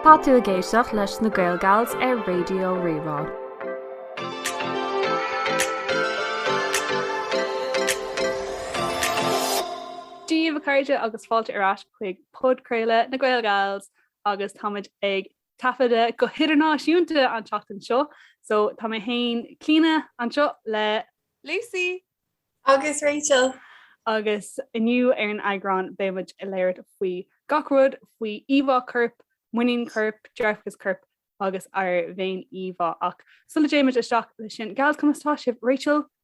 Tá tú ag éisteacht leis na Gaelgals ar Raidió Rí-Rá. Dia daoibh a chairde agus fáilte ar ais chuig Podchraoladh na Gaelgals agus táimid ag taifeadadh go hidirnáisiúnta an tseachtain seo so tá mé féin Clíodhna anseo le. Lucy! Agus Rachel! Agus inniu ar an eagrán beidh muid ag labhairt faoi gach rud faoi íomhá coirp, muinín coirp, dearfachas coirp agus ár bhféin íomhá ach sula dtéimid isteach leis sin gals conas tá sibh Rachel?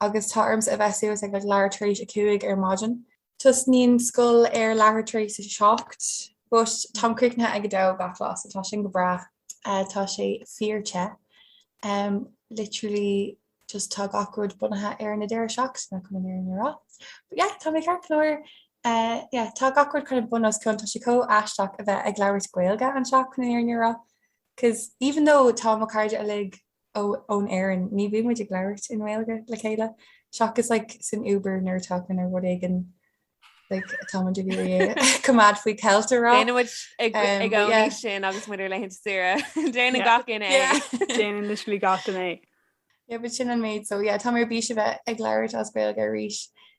Agus tá ormsa a bheith suas ag leathuair tar éis a cúig ar maidin. Tosnaíonn scoil ar leathuair tar éis a seacht, but táim críochnaithe ag a dó gach lá so tá sin go breá. Tá sé fíor te. Literally just tá gach rud bunaithe ar na deireadh seachtaine chun an fhírinne a rá. But yeah, tá mé ceart go leor. Yeah, tá gach rud kind of bunoscionn, tá sé chomh aisteach a bheith ag labhairt Gaeilge anseo chun an fhírinne a rá, cos even though tá mo cairde uilig ó ón Éirinn ní bhíonn muid ag labhairt i nGaeilge le chéile seachas like san Uber nuair atá kind of rud éigin like atá muid ag iarraidh é coimeád faoi ceilt a rá. Déanann muid ag um, ag but yeah. óí sin agus muid ar laethanta saoire. Déanann Yeah. gach éinne é. Yeah. Déanann literally gach éinne é. Yeah, but sin an méid so yeah, tá mé ar bís a bheith ag labhairt as Gaeilge arís.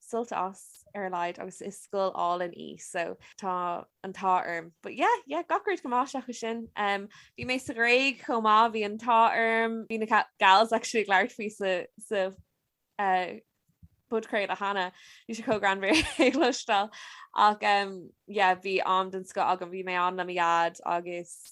sult as ar a laghad agus is scoil álainn í so tá an t-ádh orm. But yeah, yeah gach rud go maith seachas sin. Em bhí mé sa Ghréig chomh maith bhí an t-ádh orm. Bhí na gals actually ag labhairt faoi sa sa eh podchraoladh cheana. Bhí sé chomh greannmhar é cloisteáil ach em yeah bhí am den scoth agam bhí mé ann le mo Dhaid agus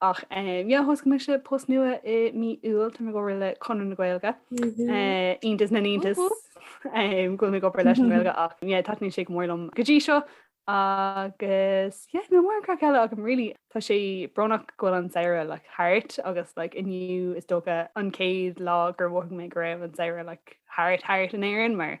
Ach yeah, thosaigh mise post nua i mí Iúil, tá mé ag obair le Conradh na Gaeilge, iontas na n-iontas go bhfuil mé ag obair leis an nGaeilge ach yeah, taitníonn sé go mór liom go dtí seo agus yeah, níl mórán craic eile agam really. Tá sé brónach go bhfuil an samhradh like thart agus like inniu is dócha an chéad lá gur mhothaigh mé go raibh an samhradh like thart thart in Éirinn mar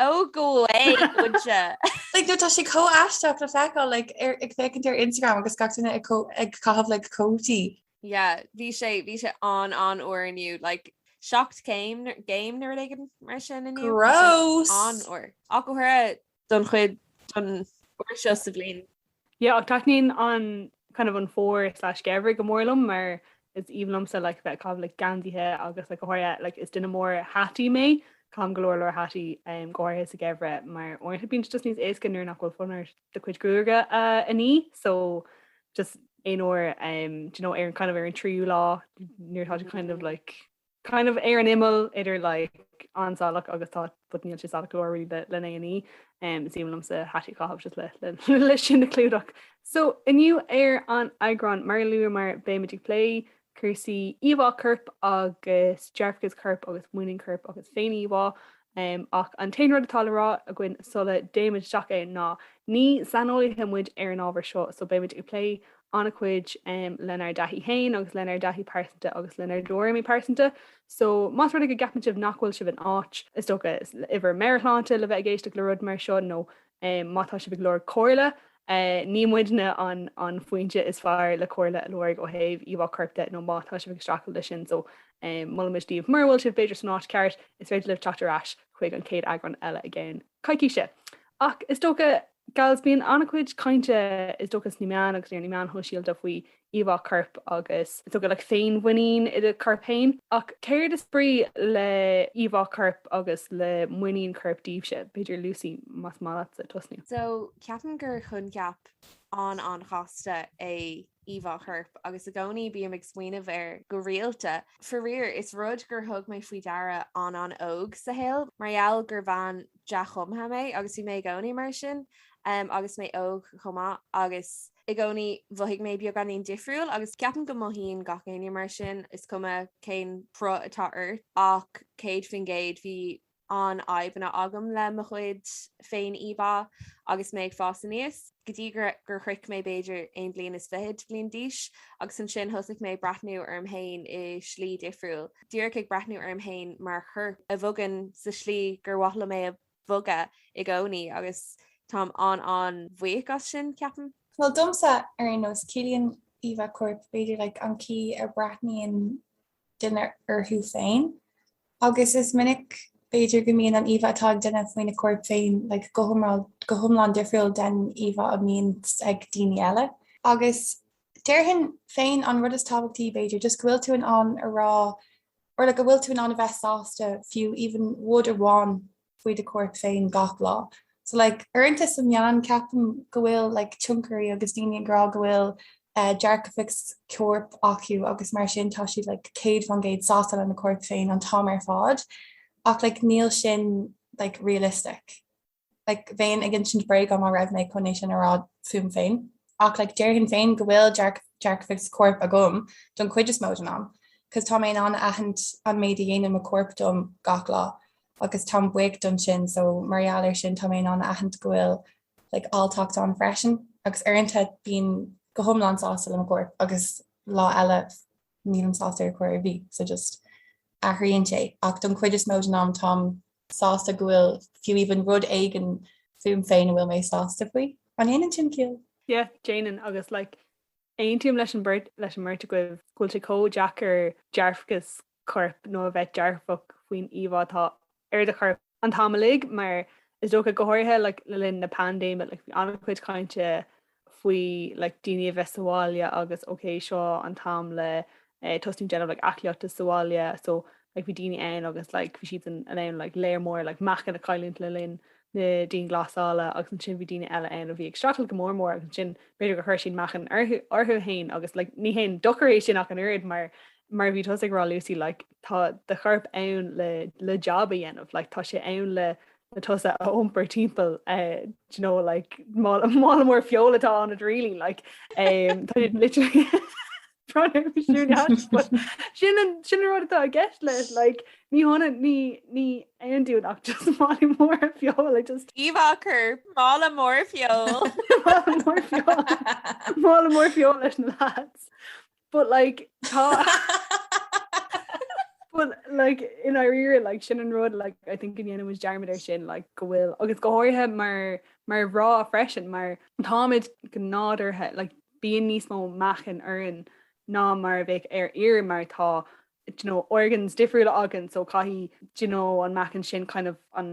Ó go muinse! Like, no, tá sé chomh aisteach le feiceáil like, ar, ag féachaint ar Instagram agus gach duine ag, có, ag caitheamh le like, cótaí. Yeah, bhí sé, bhí sé an, an-fhuar inniu, like, seacht céim, gcéim nó rud éigin mar sin inniu. Gross! An-fhuar. Ach go háirithe don chuid, don uair seo sa bhliain Yeah ach taitníonn an kind of an fómhar slash geimhreadh go mór liom mar is aoibhinn liomsa like bheith ag caitheamh like geansaithe agus like go háirithe like is duine mór hataí mé caithim go leor leor hataí um, go háirithe sa geimhreadh mar uaireanta bíonn sé just níos éasca nuair nach bhfuil fonn ort do chuid gruaige a a ní so just aon uair um, do you know ar an kind of ar an tríú lá nuair atá tú kind of like kind of ar an imeall idir like an-salach agus tá but níl sé salach go leor really le lena ní. Umm is maith liomsa hataí a chaitheamh just le le le sin a clúdach. So inniu ar an eagrán mar a luamar beimid ag plé cúrsaí íomhá coirp agus dearfachas coirp agus muinín coirp agus féin-íomhá. em ach an t-aon rud atá le rá againn sula dtéimid isteach ann ná ní saineolaithe muid ar an ábhar seo so beimid ag plé an-chuid em lenár dtaithí féin agus lenár dtaithí pearsanta agus lenár dtuairimí pearsanta so más rud é go gceapann sibh nach bhfuil sibh in áit is dócha i bhur meabhairshláinte le bheith ag éisteacht le rud mar seo nó é. Má tá sibh ag lorg comhairle, ní muidne an foinse is fearr le comhairle a lorg ó thaobh íomhá coirp de nó má tá sibh ag streachailt leis sin so molaimid daoibh. Mura bhfuil sibh b'fhéidir san áit cheart, is féidir libh teacht ar ais chuig an chéad eagrán eile i gceann coicíse. Ach is dócha, gals, bíonn an-chuid cainte is dócha sna meáin agus ar na meáin shóisialta faoi íomhá coirp agus is dócha like féinmhuinín i do chorp féin. Ach céard is brí le íomhá coirp agus le muinín coirp daoibhse? B'fhéidir Lucy más maith leatsa tosnú. So ceapaim gur choincheap an-an-chasta é íomhá choirp agus i gcónaí bím ag smaoineamh air go rialta. Faraor, is rud gur thug mé faoi deara an-an-óg sa shaol mar gheall gur bhean dea-chumtha mé agus bhí mé i gcónaí mar sin agus mé óg chomh maith agus, I gcónaí, mhothaigh mé beagáinín difriúil agus ceapaim go mothaíonn gach éinne mar sin, is cuma cén cruth atá ort ach céad faoin gcéad bhí an-fhadhbanna agam le mo chuid féin-íomhá agus mé ag fás aníos, go dtí gur shroich mé b'fhéidir aon bhliain is fichead bliain d'aois agus ansin thosaigh mé ag breathnú orm féin i slí difriúil, díreach ag breathnú orm féin mar chorp a bhogann sa slí gur mhaith liom é a. bhogadh i gcónaí agus táim an-an-bhuíoch as sin, ceapaim. Bhuel, domsa, ar aon nós, ciallaíonn íomhá coirp, b'fhéidir, like, an chaoi a breathnaíonn duine orthu féin. Agus is minic, b'fhéidir, go mbíonn an íomhá atá ag duine faoina chorp féin, like, go hioml, go hiomlán difriúil den íomhá a mbíonn ag daoine eile. Agus déarfainn féin, an rud is tábhachtaí, b'fhéidir, just go bhfuil tú in ann a rá Or like go bhfuil tú in ann a bheith sásta fiú even rud amháin faoi do chorp féin gach lá. So like uaireanta sna meáin ceapaim go bhfuil like tionchairí agus daoine ag rá go bhfuil eh dearfachas coirp acu agus mar sin tá siad like céad faoin gcéad sásta lena chorp féin an t-am ar fad ach like níl sin like realistic. like bheinn ag insint bréaga má bhí mé chun é sin a rá fúm féin, ach like déarfainn féin go bhfuil dearfachas coirp agam don chuid is mó den am, 'cause tá mé in ann a aithint an méid a dhéanann mo chorp dom gach lá agus táim buíoch don sin, so mar gheall air sin tá mé in ann a aithint go bhfuil like áilleacht ann freisin, agus uaireanta bím go hiomlán sásta le mo chorp agus lá eile nílim sásta ar chor ar bith, so just athraíonn sé, ach don chuid is mó den am táim sásta go bhfuil fiú even rud éigin fúm féin a bhfuil mé sásta faoi. An ndéanann sin ciall? Yeah, déanann agus like aontaím leis an beirt, leis an mbeirt agaibh go bhfuil sé chomh deacair dearfachas coirp nó a bheith dearfach faoin íomhá atá ar do chorp an t-am uilig mar is dócha go háirithe like le linn na paindéime like bhí an-chuid cainte faoi like daoine a bheith sa bhaile agus ok seo an t-am le tosnú ag déanamh like aclaíochta sa bhaile so like bhí daoine ann agus like bhí siad in ann like lear mór like meáchan a chailliúint le linn na dianghlasála agus ansin bhí daoine eile ann a bhí ag streachailt go mór mór agus ansin b'fhéidir gur chuir siad meáchan orthu féin agus like ní haon dochar é sin ach an oiread mar mar bhí tusa ag rá Lucy like tá do chorp ann le le jab a dhéanamh like tá sé ann le tusa a iompar timpeall do you know, like, mála mór feoil atá ionat really like, um, tá siad literally sin sin rud atá i gceist leis like, ní hionann ní ní haon dún ach just mála mór feoil ag just íomhá mála mór feoil mála mór feoil leis na lads. But like tá But like i ndáiríre like sin an rud like I think go ndéanaimis dearmad ar sin like go bhfuil agus go háirithe mar mar mhná freisin mar táimid go nádúrtha like bíonn níos mó meáchan orainn ná mar a bheadh ar fhear mar tá you know organs difriúla againn so caithfidh you know an meáchan sin kind of an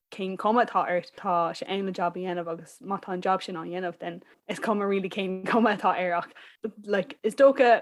cén chuma atá ort, tá sé ann le jab a dhéanamh agus má tá an jab sin á dhéanamh then is cuma really cén chuma atá air ach like is dócha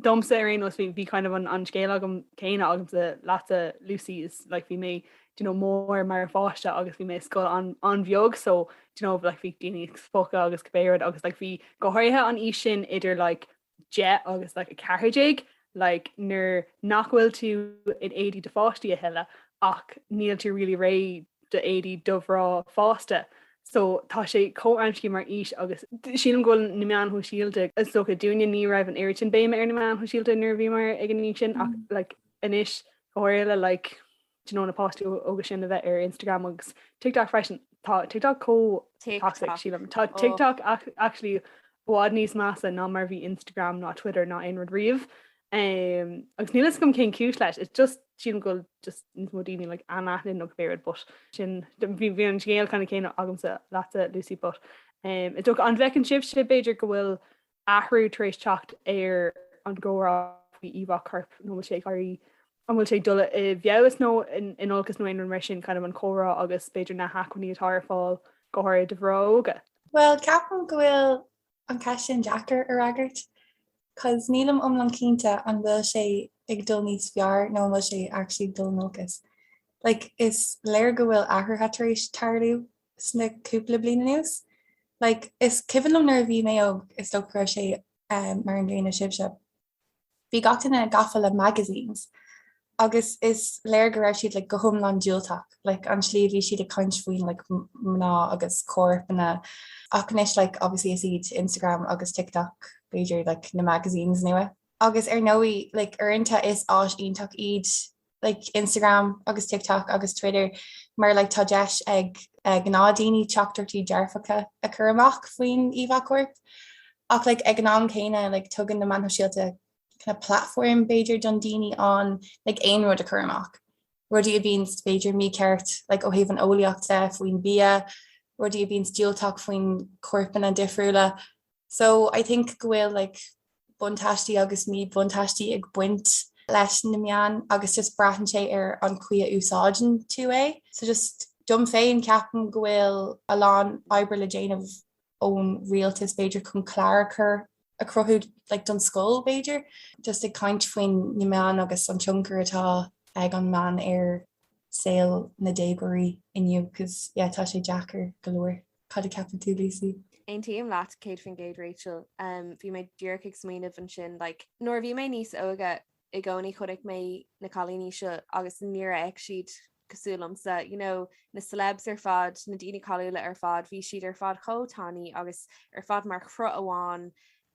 domsa ar aon nós bhí bhí kind of an an scéal ceannann céanna agamsa leatsa Lucy is like bhí mé do you know mór mar pháiste agus bhí mo scoil an an-bheag so do you know like bhí daoine ag spochadh agus cibé rud agus like bhí go háirithe an aois sin idir like 10 agus like 14, like nuair nach bhfuil tú in éadaí do pháistí a thuilleadh ach níl tú really réidh d'éadaí do mhná fásta. So tá sé chomh amscaí mar aois agus sílim go bhfuil na meáin shóisialta, is dócha dúinne ní raibh an oiread sin béime ar na meáin shóisialta nuair a bhíomar ag an aois sin ach like anois go háirithe le like Like na postanna sin a bheith ar Instagram agus TikTok freisin. Tá TikTok chomh toxic, sílim. Tá TikTok actually i bhfad níos measa ná mar a bhí Instagram ná Twitter ná aon rud riamh. Agus níl 'fhios agam cén cúis leis. It's just, sílim go bhfuil just níos mó daoine like anaithnid nó cibé rud but sin, bhí an scéal ceannann céanna agamsa leatsa Lucy but is dócha, an bhfeiceann sibhse b'fhéidir go bhfuil athrú tar éis teacht ar an gcomhrá faoi íomhá corp, nó an bhfuil sé ag éirí, an bhfuil sé ag dul i bhfeabhas nó in olcas nó aon rud mar sin, kind of an comhrá agus b'fhéidir na hacmhainní atá ar fáil, go háirithe do dhaoine óga. Bhuel, ceapaim go bhfuil an cheist sin deacair a fhreagairt, 'cause nílim iomlán cinnte an bhfuil sé ag dul níos fearr nó an bhfuil sé actually ag dul in olcas. Like, is léir go bhfuil athruithe tar éis tarlú sna cúpla bliain anuas. Like, is cuimhin liom nuair a bhí mé óg, is dócha go raibh sé mar an gcéanna sibhse, bhí gach éinne gafa le magazines agus is léir go raibh siad like go hiomlán diúltach, like an tslí a bhí siad ag caint faoin like mná agus corpanna. Ach anois like obviously is iad Instagram agus TikTok b'fhéidir like na magazines nua. Agus ar ndóigh, like uaireanta is áis iontach iad like Instagram agus TikTok agus Twitter mar like tá deis ag uh, gnáth daoine teachtaireachtaí dearfacha a chur amach faoin íomhá corp. Ach like, ag an am céanna like, tugann na meáin shóisialta kind of platform b'fhéidir don daoine ann like, aon rud a chur amach. Rudaí a bhíonns b'fhéidir mícheart like, ó thaobh an eolaíochta faoin bia, rudaí a bhíonns diúltach faoin corpanna difriúla So I think go bhfuil like buntáistí agus míbhuntáistí ag baint leis na meáin agus just braitheann sé ar an chaoi a úsáideann tú é. So just dom féin ceapaim go bhfuil a lán oibre le déanamh ón rialtas b'fhéidir chun cláracha a cruthú like don scoil b'fhéidir. Just ag caint faoin na meáin agus an tionchar atá ag an meán ar saol na déagóirí inniu cos yeah tá sé deacair go leor. Cad a ceapann tú, Lucy? Aontaím leat 100% Rachel, bhí mé díreach ag smaoineamh ansin like nuair a bhí mé níos óige i gcónaí chonaic mé na cailíní seo agus níor fhéach siad cosúil liomsa you know na celebs ar fad na daoine cáiliúla ar fad bhí siad ar fad chomh tanaí agus ar fad mar chruth amháin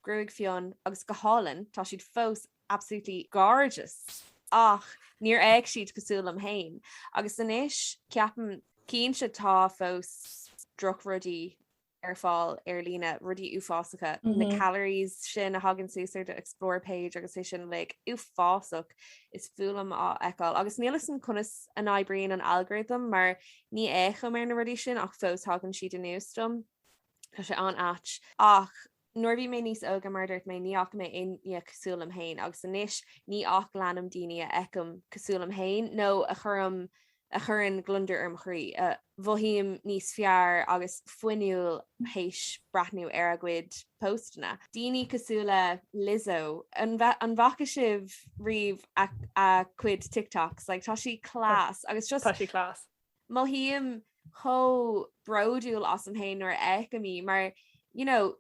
gruaig fionn agus go hálainn tá siad fós absolutely gorgeous ach níor fhéach siad cosúil liom féin agus anois ceapaim cinnte tá fós droch rudaí ar fáil ar líne rudaí uafásacha na calories sin a thagann suas ar do explore page agus é sin like uafásach is fuath liom á fheiceáil agus níl 'fhios a'm conas a n-oibríonn an algorithm mar ní fhéachaim ar na rudaí sin ach fós thagann siad anuas dom tá sé an-ait ach Nuair a bhí mé níos óige, mar a dúirt mé, ní fhaca mé éinne cosúil liom féin agus anois ní ach leanaim daoine a fheicim cosúil liom féin nó a chuirim, a chuireann gliondar ar mo chroí, a mhothaím níos fearr agus fuinniúil théis breathnú ar a gcuid póstanna. Daoine cosúil le Lizzo, an bhfaca sibh riamh a cuid TikToks? Like tá sí class agus just. Tá sí class. mothaím chomh bródúil asam féin nuair a fheicim í mar you know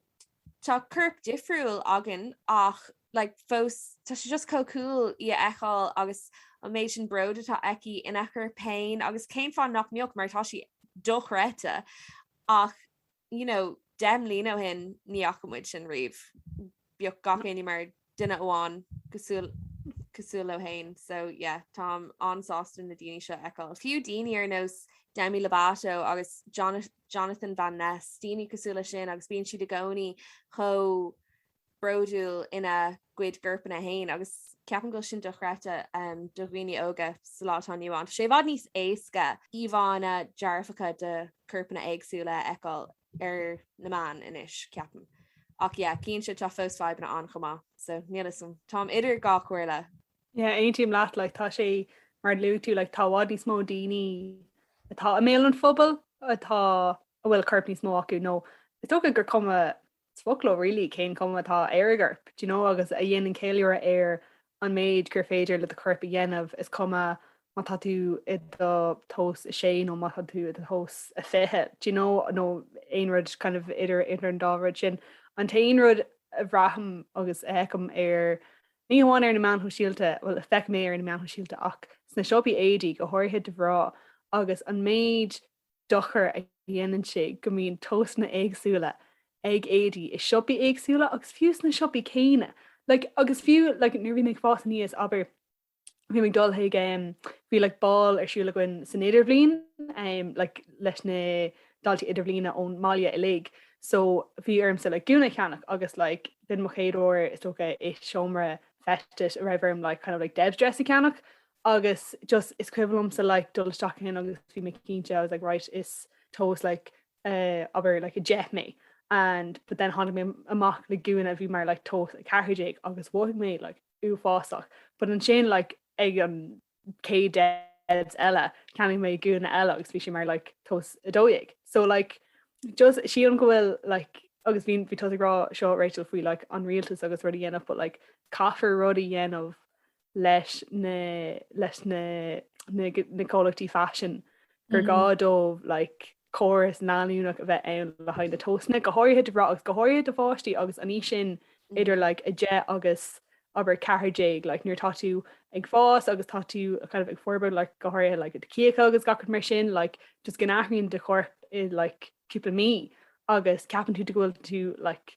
tá corp difriúil againn ach like fós tá sé just chomh cool í a fheiceáil agus an méid sin bróid atá aici ina corp féin agus cén fáth nach mbeadh mar tá sí dochreidte ach you know deich mbliana ó shin ní fhaca muid sin riamh, bhíodh gach éinne mar duine amháin cosúil cosúil leo féin so yeah táim an-sásta na daoine seo a fheiceáil. Fiú daoine ar nós Demi Lovato agus Jonathan Jonathan Van Ness, daoine cosúil le sin agus bíonn siad i gcónaí chomh bródúil ina gcuid gcorpanna féin agus ceapaim go bhfuil sin dochreidte do dhaoine óga sa lá atá inniu ann. Tá sé i bhfad níos éasca íomhánna dearfacha de chorpanna éagsúla a fheiceáil ar na meáin anois, ceapaim. Ach yeah, cinnte, tá fós fadhbanna ann chomh maith, so níl 'fhios a'm. Táim idir dhá chomhairle. Yeah, aontaím leat, like, tá sé, mar a luaigh tú, like, tá i bhfad níos mó daoine atá i mbéal an phobail atá a bhfuil corp níos mó acu nó is dócha gur cuma is fuath liom really, cén chuma atá ar a gcorp? Do you know, agus a dhéanann ceiliúradh ar an méid gur féidir le do chorp a dhéanamh, is cuma má tá tú i do thomhas a sé nó má tá tú i do thomhas a fiche, do you know, nó aon rud kind of idir idir an dá rud sin. An t-aon rud a bhraithim agus a fheicim ar ní hamháin ar na meáin shóisialta, bhuel feicim é ar na meáin shóisialta ach sna siopaí éadaí go háirithe do mhná agus an méid dochar a dhéanann sé go mbíonn tomhasanna éagsúla ag éadaí i siopaí éagsúla agus fiú sna siopaí céanna like agus fiú like nuair a bhí mé ag fás aníos abair bhí mé ag dul chuig em bhí like ball ar siúl againn san idirbhliain em like leis na daltaí idirbhliana ón mbaile uilig so bhí ormsa gúna cheannach agus like don mo chéad uair is dócha i seomra feistis a raibh orm like kind of like debs dress a cheannach agus just is cuimhin liomsa like dul isteach ansin agus bhí mé cinnte I was like right is tomhas like eh abair like 10 mé and but then tháinig mé amach le gúna a bhí mar like tomhas 14 agus mhothaigh mé like uafásach but ansin like ag an céad debs eile cheannaigh mé gúna eile agus bhí sé mar like tomhas 12 so like just sílim go bhfuil like agus bhí bhí tusa ag rá seo Rachel faoi like an rialtas agus rud a dhéanamh but like caithfear rud a dhéanamh leis na, leis na, na, na comhlachtaí faisin gur gá dóibh like, córas leanúnach a bheith ann le haghaidh na tomhasanna, go háirithe do bhras agus go háirithe do pháistí agus an aois sin idir like, 10 agus abair 14 like, nuair atá tú ag fás agus tá tú kind of, ag forbairt like, go háirithe like, do cíocha agus gach rud mar sin like, just go n-athraíonn do chorp i like, cúpla mí agus ceapann tú go bhfuil tú like,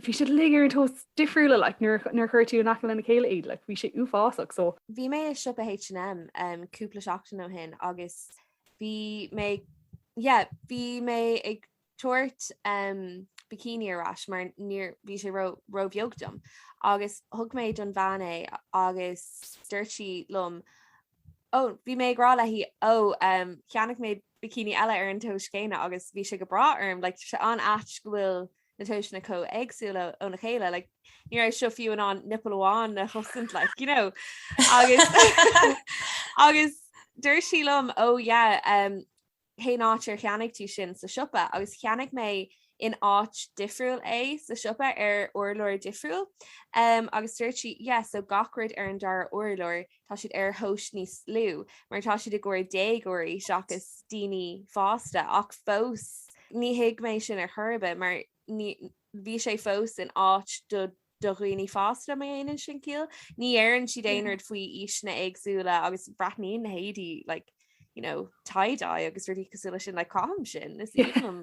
bhí siad uilig ar an tomhas difriúil like nuair nuair chuir tú in aice lena chéile iad like bhí sé uafásach so. Bhí mé i siopa H&M um cúpla seachtain ó shin agus bhí mé yeah bhí mé ag tabhairt um bikini ar ais mar níor bhí sé ró ró bheag dom agus thug mé don bhean é agus dúirt sí liom ó bhí mé ag rá léi ó um cheannaigh mé bikini eile ar an tomhas céanna agus bhí sé go breá orm like tá sé an-ait go bhfuil na toiseanna chomh éagsúla óna chéile like ní raibh seo fiú in ann nipple amháin a chosaint like you know agus agus dúirt sí liom ó oh, yeah um, cén áit ar cheannaigh tú sin sa siopa agus cheannaigh mé in áit difriúil é sa siopa ar urlár difriúil um, agus dúirt sí yeah so gach rud ar an dara urlár tá siad ar thomhas níos lú mar tá siad i gcomhair déagóirí seachas daoine fásta ach fós ní thuig mé sin ar chor ar bith mar ní, bhí sé fós in áit do do dhaoine fásta má dhéanann sin ciall, ní dheireann siad aon rud faoi aoiseanna éagsúla agus breathnaíonn na héadaí like, you know, tie-dye agus rudaí cosúil leis sin like caithim sin, is aoibhinn liom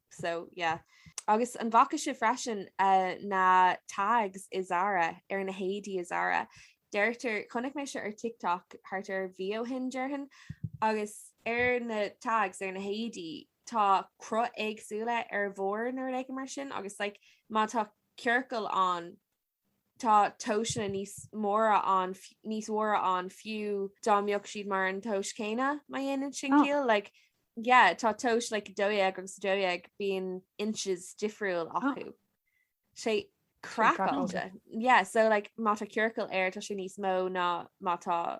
so yeah. Agus an bhfaca sibh freisin na tags i Zara ar na héadaí i Zara. Deirtear chonaic mé seo ar TikTok thart ar mhí ó shin deirfinn agus ar na tags ar na héadaí tá cruth éagsúil ar bharr nuair ag mar sin agus like má tá ciorcal ann tá tomhasanna níos móra ann, níos mhóra ann fiú dá mbeadh siad mar an tomhas céanna má dhéanann sin ciall, like, yeah, tá tomhas like, 12 agus 12 bíonn inches difriúil acu. sé craiceáilte. Yeah, so like, má tá ciorcal air tá sé níos mó ná má tá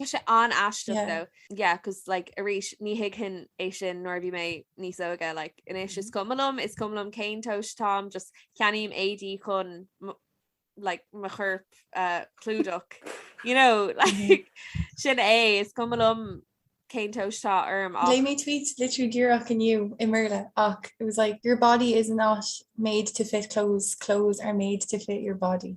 Tá sé an-aisteach though. Yeah, because like arís ní thuigfinn é sin nuair a bhí mé níos óige like anois is cuma liom is cuma liom cén tomhas atá mé just ceannaím éadaí chun like mo chorp a chlúdach. You know, like sin é is cuma liom cén tomhas atá orm ach léigh mé tweet literally díreach inniu i mBéarla ach it was like your body is not made to fit clothes, clothes are made to fit your body.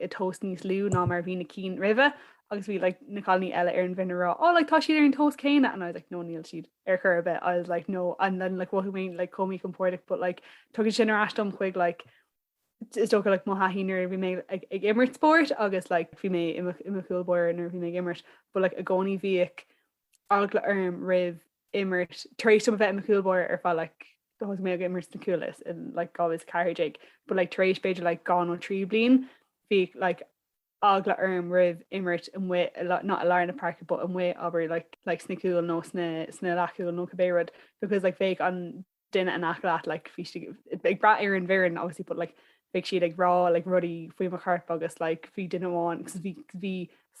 i dtomhas níos lú ná mar a bhí na cinn roimhe agus bhí like na cailiní eile ar an bhfoireann ag rá oh like tá siad ar an tomhas céanna and I was like no níl siad ar chor ar bith I was like no and then like mhothaigh mé like chomh míchompordach but like tugann sin ar ais dom chuig like is dócha like mo thaithí nuair a bhí mé ag, ag imirt spóirt agus like bhí mé im, i mo chúl báire nuair a bhí mé ag imirt but like i gcónaí bhíodh eagla orm roimh imirt tar éis dom a bheith i mo chúl báire ar feadh like thosnaigh mé ag imirt sna cúil is in like 2014 but like tar éis b'fhéidir like dhá nó trí bliain bhí like eagla orm roimh imirt amuigh i la- not i lár na páirce but amuigh abair like like sna cúil nó sna sna leathchúil nó cibé rud because like bheadh an duine in aice leat like bhí sé ag brath ar an bhfoireann obviously but like bheadh siad ag rá like rudaí faoi mo chorp agus like bhí duine amháin agus bhí bhí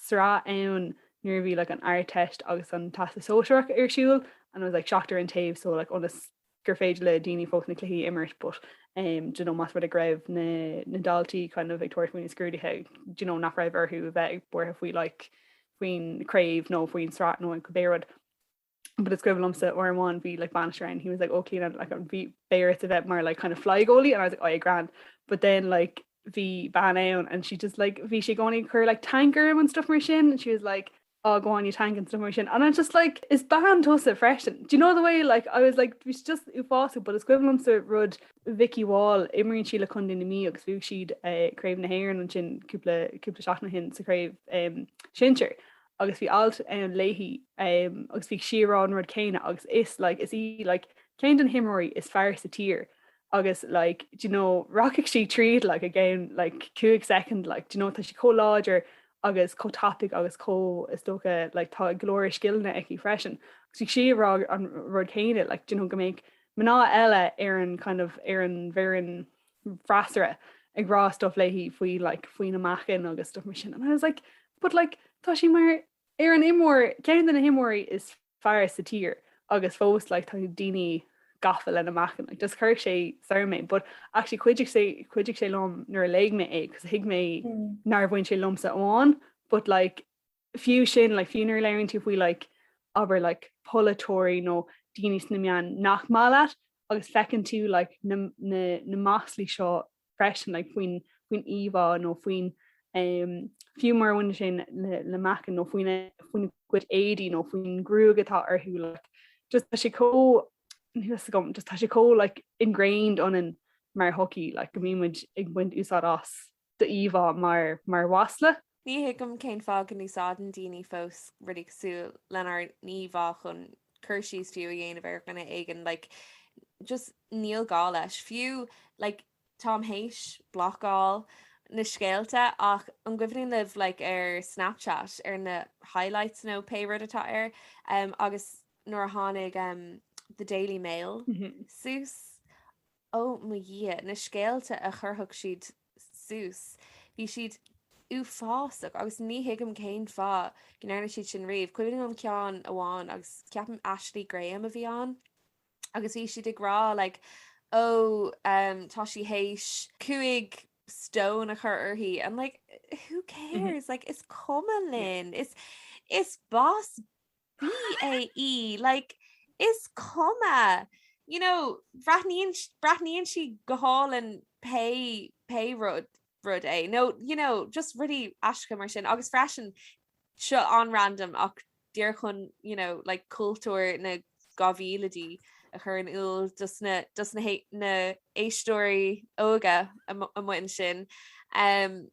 sraith ann nuair a bhí like an Ardteist agus an Teastas Sóisearach ar siúl and it was like seachtar an taobh so like ionas gur féidir le daoine fós na cluichí a imirt but um, you know, más rud é go raibh na, na daltaí kind of ag tabhairt faoi na scrúduithe you know, nach raibh orthu a bheith buartha faoi like faoin craobh nó faoin sraith nó an cibé rud. but it's equivalent to or one be like banisher and he was like okay and like I'm be bear to vet more like kind of fly goalie and I was like oh yeah grand but then like the ban out and she just like V she going her like tanker and stuff more shin and she was like oh go on you tank and stuff more shin and I'm just like it's ban to us at fresh and do you know the way like I was like we just ufasa but it's equivalent to rud Vicky Wall imrin she look on in me because we she'd uh, crave na hair and chin couple couple shot na hin to crave um shincher agus bhí alt ann léi agus bhí sí ag rá an rud céanna agus is like is í like ceann de na himreoirí is fearr sa tír agus like do you know rachaidh sí tríd like i gceann like cúig soicind like do you know tá sí chomh láidir agus chomh tapaidh agus chomh is dócha like tá go leor scileanna aici freisin agus bhí sí ag rá an rud céanna like do you know go mbeadh mná eile ar an kind of ar an bhfoireann an freasúra ag rá stuff léi faoi like faoina meáchan agus stuff mar sin and I was like but like tá sí mar ar an imreoir ceann de na himreoirí is fearr sa tír agus fós like tá daoine gafa lena meáchan like just chuirfeadh sé soir mé but actually chuidigh sé chuidigh sé liom nuair a léigh mé é cos thuig mé nár bhain sé liomsa amháin but like fiú sin, like, fiú nuair a léiríonn tú faoi, like, abair, like, polaiteoirí nó daoine sna meáin nach maith leat agus feiceann tú, like, na, na, na maslaí seo freisin, like, faoin, faoin íomhá nó faoin, um, fiú mura bhaineann sé le, le meáchan nó faoina, faoina gcuid éadaí nó faoin ghruaig atá orthu, like, just tá sé chomh, níl a fhios agam, just tá sé chomh, like, ingrained ionainn mar shochaí, like, go mbímid ag baint úsáid as do íomhá mar mhasla. Ní thuigim cén fáth go n-úsáideann daoine fós rudaí cosúil lenár n-íomhá chun cur síos fiú a dhéanamh ar dhuine éigin, like just níl gá leis. Fiú like táim théis blocáil na scéalta ach an gcuimhníonn libh like ar Snapchat ar na highlights nó pé rud atá air agus nuair a tháinig The Daily Mail suas? Ó mo Dhia, na scéalta a chuirfeadh siad suas, bhí siad uafásach agus ní thuigim cén fáth go ndearna siad sin riamh. Cuimhin liom ceann amháin agus ceapaim Ashley Graham a bhí ann agus bhí siad ag rá like oh ehm tá sí théis cúig stone a chur uirthi and like who cares like is cuma linn, is boss bae í, like, is cuma! You know, bhreathnaíonn, breathnaíonn sí go hálainn pé, pé rud, rud é. No, you know, just rudaí aisteacha mar sin agus freisin seo an-random ach díreach chun, you know, like, cultúr na 2000idí a chur in iúl dos na, dos na, na éisteoirí óga amuigh ansin. Um,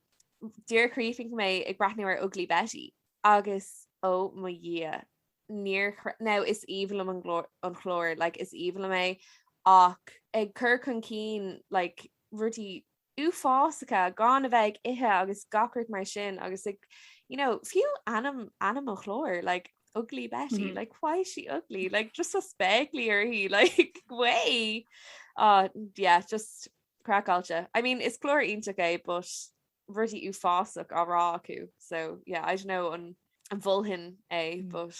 díreach chríochnaigh mé ag breathnú ar Ugly Betty. Agus ó mo Dhia, níor chreid, now is aoibhinn liom an clár, an clár, like is aoibhinn liom é ach ag cur chun cinn like rudaí uafásacha gan a bheith ag ithe agus gach rud mar sin agus like you know fiú ainm, ainm an chláir like Ugly Betty, like why is she ugly, like just tá spéaclaí uirthi like way! Aw yeah just craiceáilte. I mean is clár iontach é but rudaí uafásacha á rá acu so yeah I don't know an an bhfuilim é hmm. but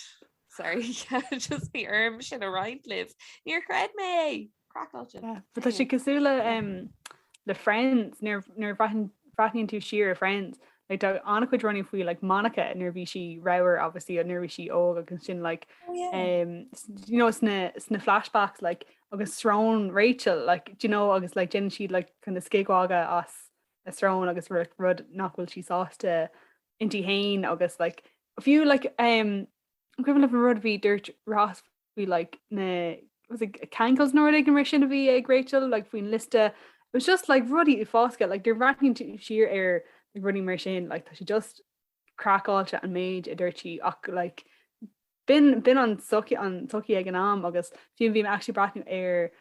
sorry just bhí orm sin a roinnt libh níor chreid mé craiceáilte Tá sé cosúil le Friends nuair bhreathnaíonn tú siar ar Friends like tá an-chuid rudaí faoi like Monica nuair bhí sí ramhar obviously nó nuair bhí sí óg agus sin like oh, yeah. um, you know sna sna flashbacks like agus srón Rachel like do you know agus like déanann siad like kind of scigmhagadh as a srón agus rud rud nach bhfuil sí sásta inti féin agus like, fiú like, um, equivalent of rud a dúirt Ross faoi like, na was it cankles nó rud éigin mar sin a bhí ag Rachel like, faoin liosta it was just like rudí uafásacha like, nuair a bhreathnaíonn tú siar ar like, rudaí mar sin like, tá sé just craiceáilte an méid a dúirtí ach like b'in b'in an tsochaí an tsochaí ag an am agus bhí bhí mé actually breathnú ar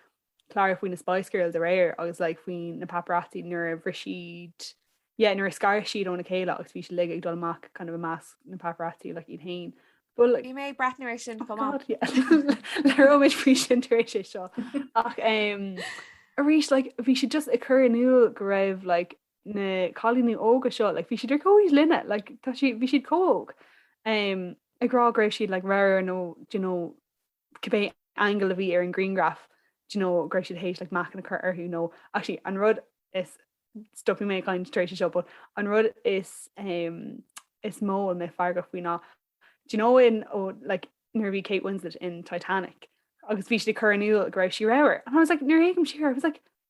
clár faoi na Spice Girls aréir agus like faoi na paparazzi nuair a bhris siad yeah nuair a scar siad óna chéile agus bhí siad like ag dul amach kind of i measc na paparazzi like iad féin Well, like, Bhí mé ag breathnú ar sin oh chomh maith. god yeah labhróimid faoi sin tar éis é seo ach em, arís like bhí sé just ag cur in iúl go raibh like na cailíní óga seo, like, bhí siad ar comhaois linne, like, tá siad, bhí siad chomh óg, um, ag rá go raibh siad, like, ramhar nó, do you know, cibé angle a bhí ar an grianghraf, do you know, go raibh siad théis, like, meáchan a chur orthu, nó, actually, an rud is, stopfaidh mé ag caint tar éis seo, but an rud is, um, is mó a bhí mé feargach faoi ná, do you know in, oh, like, nuair a bhí Kate Winslet in Titanic, agus bhí siad ag cur in iúl go raibh sí ramhar, and I was like, nuair a théigim siar, I was like,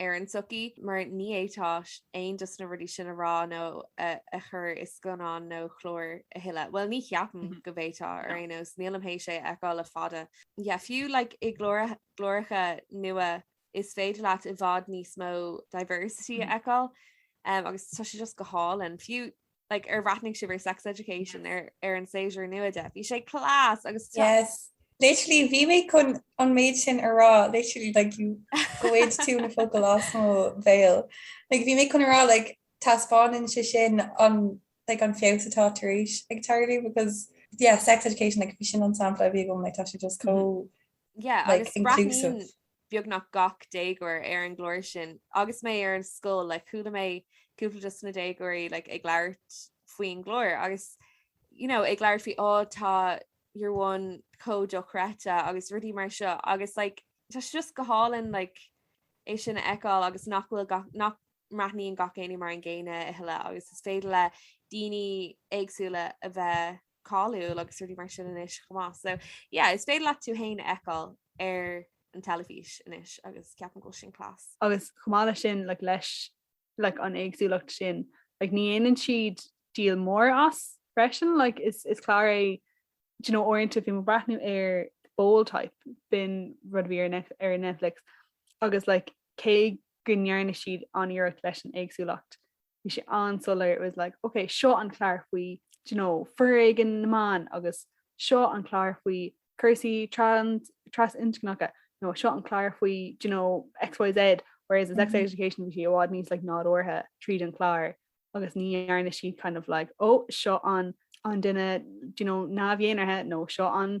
ar an tsochaí, mar ní fhéadfá aon dos na rudaí sin a rá nó a chur i scannán nó chlár a thuilleadh. Bhuel, ní cheapaim go bhféadfá, ar aon nós, nílim théis é a fheiceáil le fada. Yeah, fiú like i gcláracha nua is féidir leat i bhfad níos mó diversity a fheiceáil agus tá sé just go hálainn, fiú. like ar bhreathnaigh sibh ar sex education ar ar an séisiúr nua de. Bhí sé class agus te- Yes. Literally, bhí mé chun an méid sin a rá, literally, like, ghoid tú na focail as mo bhéal. Like, bhí mé chun a rá, like, taispeánann sé sin an, like, an feabhas atá tar éis ag tarlú, because, yeah, sex education, like, bhí sin an sampla a bhí agam, like, tá sé just chomh, yeah, like, inclusive agus breathnaíonn. beagnach gach déagóir ar an gclár sin. Agus mé ar an scoil like chuala mé cúpla dos na déagóirí like ag labhairt faoin gclár agus you know ag labhairt faoi oh tá your one chomh dochreidte agus rudaí mar seo agus like tá sé just go hálainn like é sin a fheiceáil agus nach bhfuil gach nach mbreathnaíonn gach éinne mar an gcéanna a thuilleadh agus is féidir le daoine éagsúla a bheith cáiliúil agus rudaí mar sin anois chomh maith. So yeah, is féidir leat tú féin a fheiceáil ar an teilifís anois agus ceapaim go bhfuil sin class. Agus chomh maith leis sin, like, leis like, an éagsúlacht sin, like, ní dhéanann siad deal mór as freisin. Like, is, is clár é, do you know, uaireanta bhí mé ag breathnú ar Bold Type, b'in rud a bhí ar Net- ar Netflix, agus like, cé go ndearna siad an-iarracht leis an éagsúlacht, bhí sé an-soiléir, it was like ok seo an clár faoi do you know foréigean na mban agus seo an clár faoi cúrsaí trasinscneacha nó seo an clár faoi do you know XYZ whereas i sex education bhí sé i bhfad níos like nádúrtha tríd an clár agus ní dhearna siad kind of like ó seo an an duine do you know neamh-dhénártha nó seo an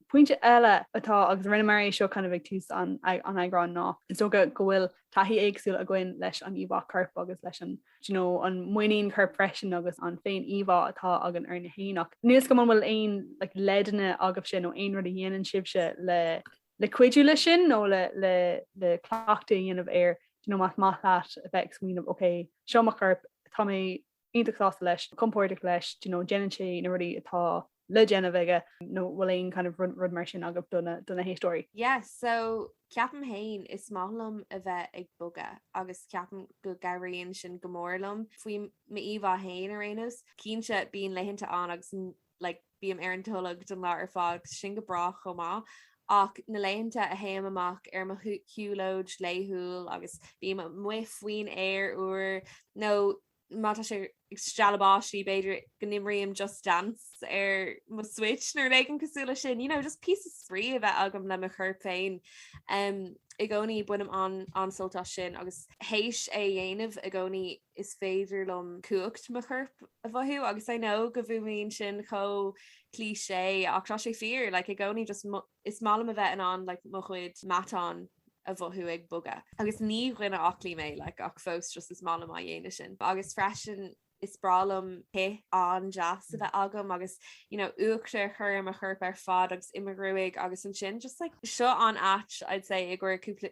Pointe eile atá, agus rinneamar é seo kind of ag tús an eagráin, ná, is dócha go bhfuil taithí éagsúil againn leis an íomhá coirp agus leis an, do you know, an muinín choirp freisin agus an féin-íomhá atá againn orainne féin. Ach níl 's agam an bhfuil aon like leideanna agaibhse nó aon rud a dhéanann sibhse le, le cuidiú leis sin nó le cleachtadh a dhéanamh air, do you know, más maith leat a bheith ag smaoineamh, 'ok, seo mo chorp, tá mé iontach sásta leis, compordach leis, do you know, déanann sé na rudaí atá le déanamh aige, nó bhfuil aon kind of rud mar sin agaibh do na héisteoirí? Yes, so ceapaim féin is maith liom a bheith ag bogadh agus ceapaim go gcabhraíonn sin go mór liom faoi m'íomhá féin ar aon nós. Cinnte, bíonn laethanta ann agus like bím ar an tolg don lá ar fad agus sin go breá chomh maith ach na laethanta a théim amach ar mo shiúlóid laethúil agus bím amuigh faoin aer úr nó má tá sé ag stealladh báistí b'fhéidir go n-imrím Just Dance ar mo Switch nó rud éigin cosúil le sin, you know, just píosa spraoi a bheith agam le mo chorp féin. I gcónaí bainim an-sult as sin agus théis é a dhéanamh i gcónaí is féidir liom cumhacht mo choirp a mhothú agus I know go bhfuaimníonn sin chomh cliché ach tá sé fíor like i gcónaí just is maith liom a bheith in ann like mo chuid matán a mhothú ag bogadh agus ní duine aclaí mé like ach fós just is maith liom á dhéanamh sin agus freisin is breá liom cith an-deas a bheith agam agus you know uachtar a chur ar mo chorp ar fad agus i mo ghruaig agus ansin just like seo an áit I'd say i gcuir cúpla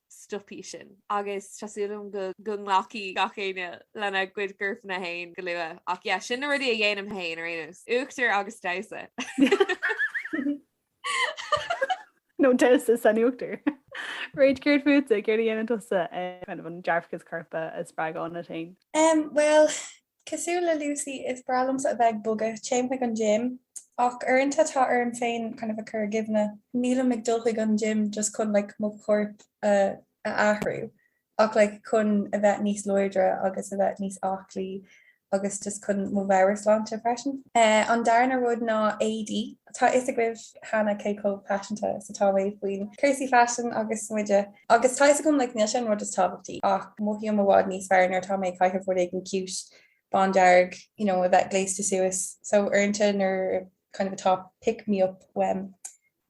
stopfaidh sin agus tá súil agam go nglacfaidh gach éinne lena gcuid gcorpanna féin go luath. Ach yeah, sin na rudaí a dhéanaim féin ar aon nós, uachtar agus damhsa. nó damhsa san uachtar. Mairéad, céard fútsa, céard a dhéanann tusa chun an dearfachas corpa a spreagadh ionat féin? Bhuel, Cosúil le Lucy, is breá liomsa a bheith ag bogadh, téim chuig an gym, ach uaireanta tá orm féin kind of a chur i gcuimhne, nílim ag dul chuig an gym just chun like mo chorp a athrú ach like chun a bheith níos láidre agus a bheith níos aclaí agus just chun mo mheabhairshláinte freisin. An darna rud ná éadaí. Tá a fhios agaibh cheana cé chomh paiseanta is atá mé faoi cúrsaí faisin agus smideadh, agus tá a fhios agam like níl sé an rud is tábhachtaí ach mothaím i bhfad níos fearr nuair atá mé ag caitheamh rud éigin cute bándearg, you know a bheith gléasta suas so uaireanta nuair kind of atá pick me up uaim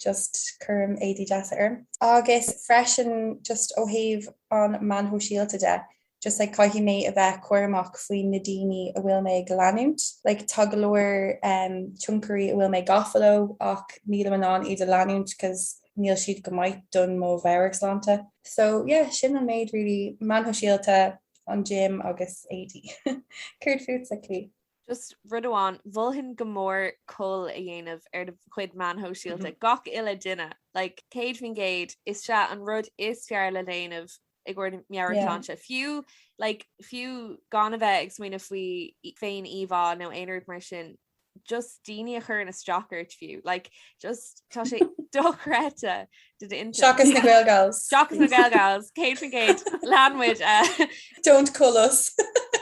just cuirim éadaí deasa orm. Agus freisin just ó thaobh na meáin shóisialta de, just like Caithfidh mé a bheith cúramach faoi na daoine a bhfuil mé ag leanúint. Like tá go leor em tionchairí a bhfuil mé gafa leo ach nílim in ann iad a leanúint 'cause níl siad go maith don mo mheabhairshláinte. So yeah sin an méid really meáin shóisialta, an gym agus éadaí. Céard fútsa, Clí? Just rud amháin, mholfainn go mór cull a dhéanamh ar do chuid meáin shóisialta gach uile duine like 100%, is ea an rud is fearr le déanamh ag ár meabhairshláinte. Fiú like, fiú gan a bheith ag smaoineamh faoi féiníomhá nó aon rud mar sin, just daoine a chuireann isteach ort fiú, like, just tá sé dochreidte do d'intinn. Seachas na Gaelgals. Seachas na Gaelgals, céad faoin gcéad, lean muid. eh. Don't call us.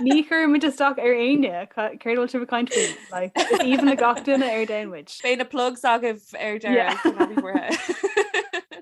Ní chuireann muid isteach ar éinne, ca- céard a bhfuil sibh ag caint faoi? Like, is aoibhinn le gach duine ar domhan muid. Beidh na plugs agaibh ar deireadh, céad faoin gcéad.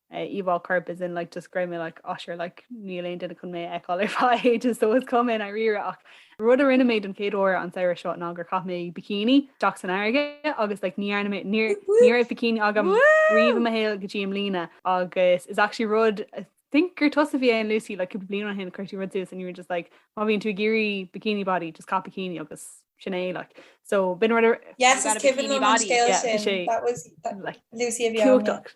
íomhá coirp as in like just go raibh mé like oh sure like níl aon duine chun mé a fheiceáil ar feadh just so is cuma i ndáiríre ach rud a rinne mé don chéad uair an samhradh seo ná gur chaith mé bikini isteach san fharraige agus like ní dhearna mé ní ní raibh bikini agam riamh i mo shaol go dtí i mbliana agus is actually rud I think gur tusa a bhí ann Lucy like cúpla bliain ó shin chuir tú rud suas and you were just like má bhíonn tú ag iarraidh bikini body just caith bikini agus sin é like so b'in rud a Yes, is I've got a cibé bikini liom an body, scéal yeah, sin. sé That was that, like Lucy a bhí ann, yeah. cumhachtach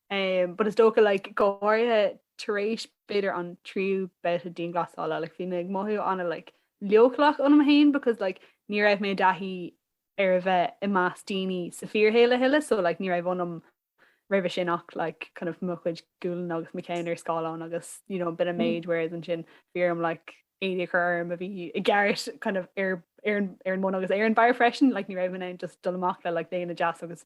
Um, but is dócha like, go háirithe tar éis b'fhéidir an tríú babhta dianghlasála like, bhí mé ag mothú an- like, leochaileach ionam féin because like, ní raibh mé i dtaithí ar a bheith i measc daoine sa fíorshaol a thuilleadh so like, ní raibh ionam roimhe sin ach like, kind of, mo chuid gualainn agus mo cheann ar scáileán agus you know, b'in an méid whereas ansin bhí orm like, éadaí a chur orm a bhí i gceart kind of, ar, ar, ar an mbun agus ar an mbarr freisin like, ní raibh mé in ann just dul amach le like, léine deas agus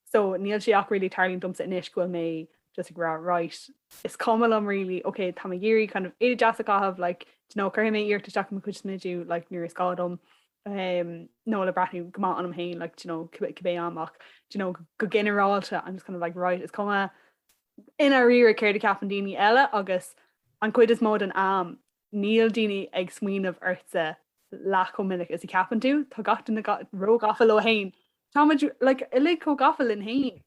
So níl sé ach really ag tarlú domsa anois go bhfuil mé just ag rá right, is cuma liom really, ok táim ag iarraidh kind of éadaí deasa a chaitheamh like do you know cuirfidh mé iarracht isteach i mo chuid smididh like nuair is gá dom um nó le breathnú go maith ionam féin like do you know cib cibé am ach do you know go ginearálta I'm just kind of like right is cuma i ndáiríre céard a cheapann daoine eile agus an chuid is mó den am Níl daoine ag smaoineamh ortsa leath chomh minic is a cheapann tú. Tá gach duine róghafa leo fhéin. Táimid uilig chomh gafa linn fhéin.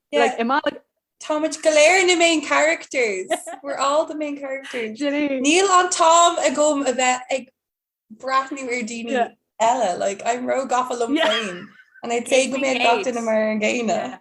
Táimid go léir na main characters. We're all the main characters. Níl an t-am agam a bheith ag breathnú ar daoine eile. I'm róghafa liom fhéin. And I'd say go mbeidh gach duine mar an gcéanna.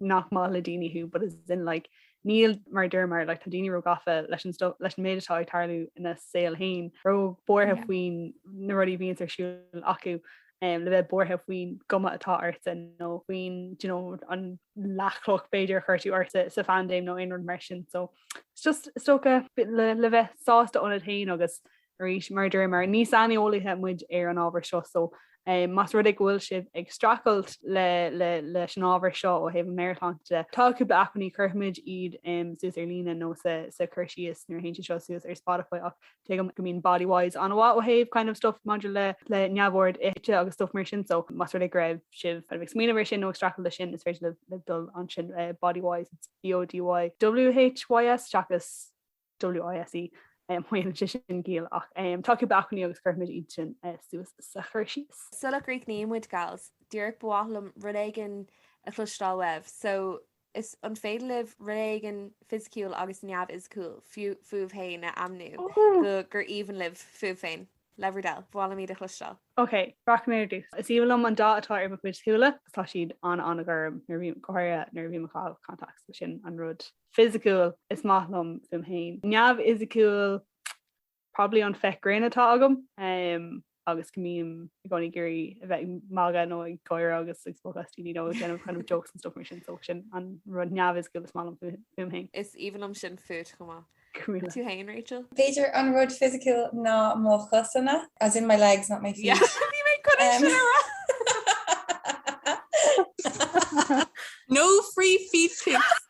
nach maith le daoine thú but as in like níl mar a deirimid like tá daoine róghafa leis an sto leis an méid atá ag tarlú ina saol féin róbhuartha yeah. faoin na rudaí a bhíonn ar siúl acu um, le bheith buartha faoin gcuma atá ortsa nó faoin you know, an leathchloch b'fhéidir a chuir tú ortsa sa phaindéim nó aon rud mar sin so just is dócha le, le bheith sásta ionat féin agus arís, mar a deirimid ní saineolaithe muid ar an ábhar seo so más rud é go bhfuil sibh ag strachailt leis an ábhar seo ó thaobh meabhairshláinte de, tá cúpla acmhainní chuirfimid iad suas ar líne nó sa cur síos nuair a théann siad seo suas ar Spotify ach tuigim go mbíonn body wise an-mhaith ó thaobh kind of stuff maidir le le neamhord ite agus stuff mar sin so más rud é go raibh sibh ag smaoineamh air sin nó ag strachailt leis sin is féidir libh dul ansin eh, body wise it's BODY WHYS seachas WISE, má dhéanann sé sin ciall ach tá acu bacainní agus cuirfimid iad sin suas sa chur síos. Sula gcríochnaímid gals, díreach ba mhaith liom rud éigin a chloisteáil uaibh, so is an féidir libh rud éigin fisiciúil agus neamhfhisiciúil fúibh féin a ainmniú go gur aoibhinn libh fúibh féin? Le bhur dtoil, ba mhaith liom iad a chloisteáil. Ok, rachaidh mé ar dtús. Is aoibhinn liom an dath atá ar mo chuid shúile, tá siad an-an-ghorm nuair a bhím, go háirithe nuair a bhím ag caitheamh contacts, sin an rud fisiciúil is maith liom fúm féin. Neamhfhisiciúil, probably an féith ghrinn atá agam agus go mbím i gcónaí ag iarraidh a bheith ag magadh nó ag gáire agus ag spochadh as daoine nó ag déanamh kind of jokes and stuff mar sin, so sin an rud neamhfhisiciúil is maith liom fúm féin. Is aoibhinn liom sin fút chomh maith. Go raibh maith. Tú féin, Rachel? B'fhéidir an rud fisiciúil ná mo chosanna, as in my legs, not my feet. Yeah, bhí mé chun é sin a rá! No free feet pics!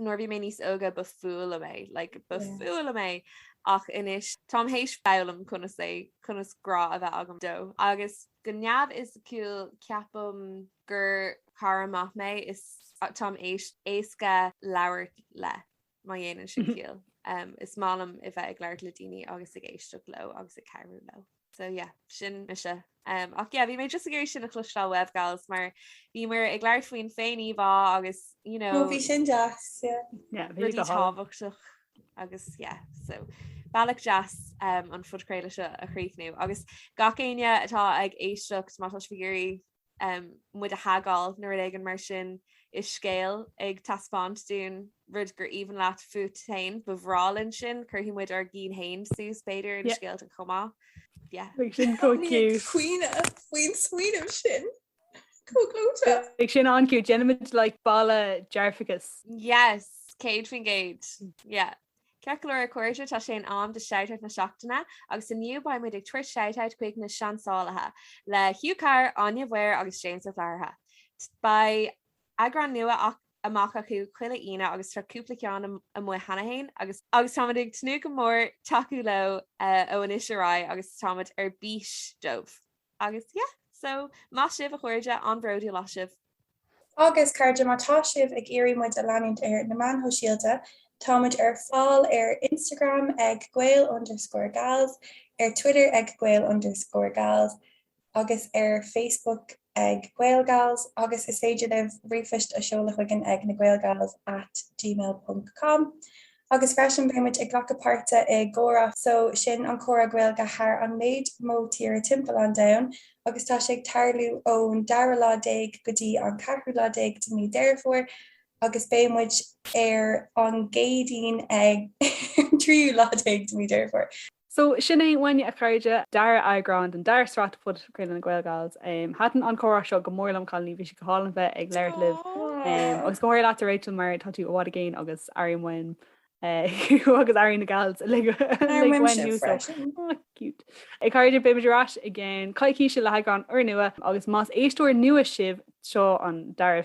nuair a bhí mé níos óga ba fuath liom é, like ba fuath liom é ach anois táim théis foghlaim conas é, conas grá a bheith agam dó agus go neamhfhisiciúil ceapaim gur cara maith mé is táim éasca labhairt le má dhéanann sin ciall. Is maith liom a bheith ag labhairt le daoine agus ag éisteacht leo agus ag cabhrú leo. So yeah, sin mise. Um, ach yeah, bhí mé just ag iarraidh sin a chloisteáil uaibh gals mar bhíomar ag labhairt faoin féiníomhá agus, you know, No, bhí sin deas, yeah. Yeah, bhí rudaí tábhachtach agus yeah, so bealach deas um, an phodchraoladh seo a chríochnú agus gach éinne atá ag éisteacht má tá sibh ag iarraidh muid a thagáil nó rud éigin mar sin i scéal ag taispeáint dúinn rud gur aoibhinn leat fút féin, ba bhreá linn sin, cuirfidh muid ár gcinn féin suas b'fhéidir inár scéalta chomh maith. Beidh sin chomh cute. Beidh muid ag caoineadh faoin smaoineamh sin chomh clóite. Beidh sin an-cute, déanfaimid like balla dearfachas. Yes! 100%. Yeah. Ceart go leor, a chairde, tá sé in am do Shoutout na Seachtaine agus inniu beidh muid ag tabhairt shoutout chuig na Seansálaithe le Hugh Carr, Áine Mhaoir agus James Ó Flatharta. Beidh eagrán nua amach acu chuile Aoine agus tá cúpla ceann amuigh cheana féin agus táimid ag tnúth go mór tacú leo ó anois ar aghaidh agus táimid ar bís dóibh! Agus, yeah, so, maith sibh, a chairde, an-bhródúil as sibh! Agus, cairde, má tá sibh ag iarraidh muid a leanúint ar na meáin shóisialta, tá muid ar fáil ar Instagram ag gael underscore gals, ar Twitter ag gael underscore gals agus ar Facebook ag GaelGals, agus is féidir libh ríomhphoist a seoladh chugainn ag na gaelgals at gmail ponc com. Agus freisin, beidh muid ag glacadh páirt i gComhrá so, sin an comhrá Gaeilge thar an méid mó tíre timpeall an domhain, agus tá sé ag tarlú ón dara lá déag go dtí an ceathrú lá déag de mí Dheireadh Fómhair agus beidh muid ar an gCéadaoin ar an tríú lá déag de mí Dheireadh Fómhair. So, sin é uainne a chairde, dara eagrán den dara sraith de phodchraoladh na Gaelgals. Thaitin an comhrá seo go mór liom, a chailíní, bhí sé go hálainn bheith ag labhairt libh. Agus go háirithe leat a Rachel mar tá tú i bhfad i gcéin agus airím uaim thú agus airíonn na Gals uilig uainn thú so cute. A Chairde, beimid ar ais i gceann coicíse le heagrán úrnua agus más éisteoir nua sibh, seo an dara